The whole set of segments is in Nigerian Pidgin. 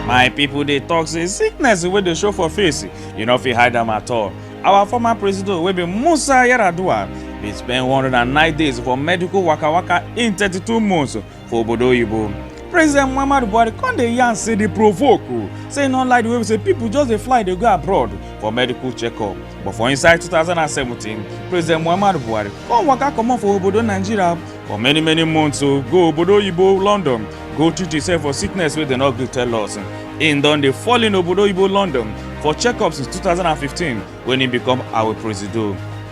my people dey talk say sickness wey dey show for face you no fit hide am at all our former president wey be musa yar'adua bin spend 109 days for medical waka waka in 32 months for obodo oyibo president muhammadu buhari come dey yarn say dey provoke o say e no like the way we say people just dey fly dey go abroad for medical checkup but for inside 2017 president muhammadu buhari come waka comot for obodo nigeria for many many months o go obodo oyibo london go treat himself for sickness wey dem no gree tell us im don dey fall in obodo oyibo london for checkups since 2015 when im become our presido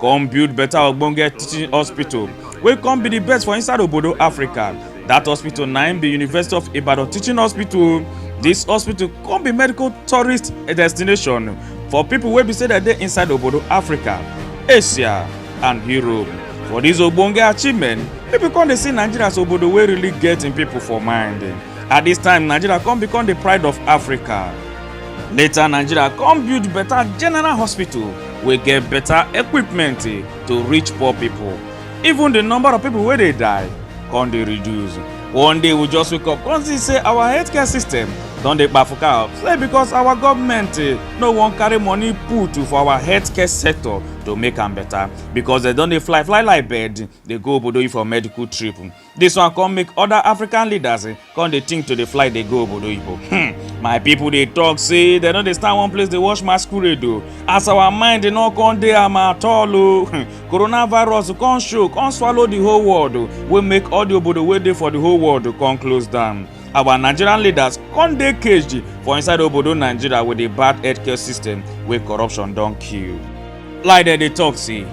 come build better ogbonge teaching hospital wey come be the best for inside obodo africa that hospital na im be university of ibadan teaching hospital this hospital come be medical tourist destination for people wey be say dem dey inside obodo africa asia and europe for this ogbonge achievement people come dey see nigeria as obodo wey really get im people for mind at this time nigeria come become the pride of africa later nigeria come build better general hospital wey get better equipment eh, to reach poor people even the number of people wey dey die come dey reduce one day we just wake up come see say our healthcare system don dey kpafuka up say because our government eh, no wan carry money put for our healthcare sector to make am better because dem don dey fly fly like bird dey go obodo for medical trip This one come make other African leaders eh, come dey think to dey fly dey go obodo oyibo. Hmm. My people dey talk say dem no dey stand one place dey watch masquerade o. As our mind dey no come dey am at all o. Hmm. Coronavirus come show come swallow the whole world o wey make all the obodo wey dey for the whole world come close down. Our Nigerian leaders come dey caged for inside obodo Nigeria with the bad healthcare system wey corruption don kill. Like dem dey talk say,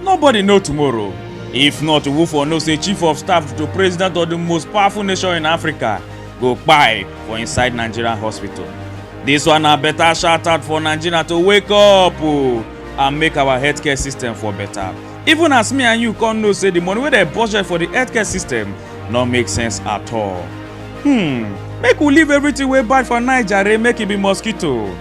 nobody know tomorrow. If not, who for know say chief of staff to president of the most powerful nation in Africa go kpai for inside Nigerian hospital. This one na better shout out for Nigeria to wake up o and make our healthcare system for better. Even as me and you come know say the money wey dem budget for the healthcare system no make sense at all. Hmm, make we leave everything wey bad for Naija re make e be mosquito.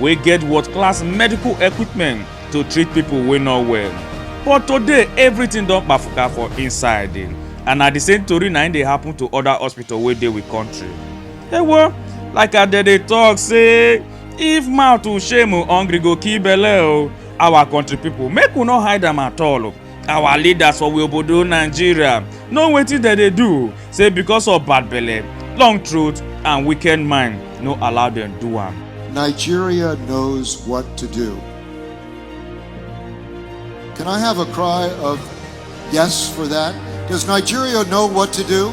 wey get world-class medical equipment to treat pipo wey no well but today everything don kpafuka for inside and na di same tori na im dey happen to oda hospital wey dey we kontri ewo like i dey dey tok say if mouth shame hungry go kill belle o our kontri pipo make we no hide am at all. our leaders for we obodo nigeria know wetin dem dey do say because of bad belle long throat and wicked mind no allow dem do am. Nigeria knows what to do. Can I have a cry of yes for that? Does Nigeria know what to do?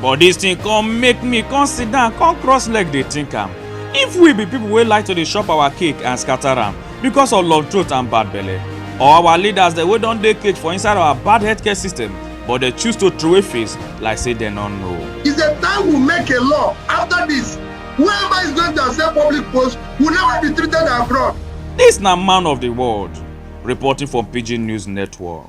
but dis thing come make me come sit down come cross leg dey think am if we be people wey like to dey chop our cake and scatter am because of long throat and bad belle or our leaders dem wey don dey cage for inside our bad healthcare system but dem choose to throway face like say dem no know. is a time we make a law after this whoever is going to accept public post will never be treated abroad Dis na man of the world reporting from Pidgin News Network.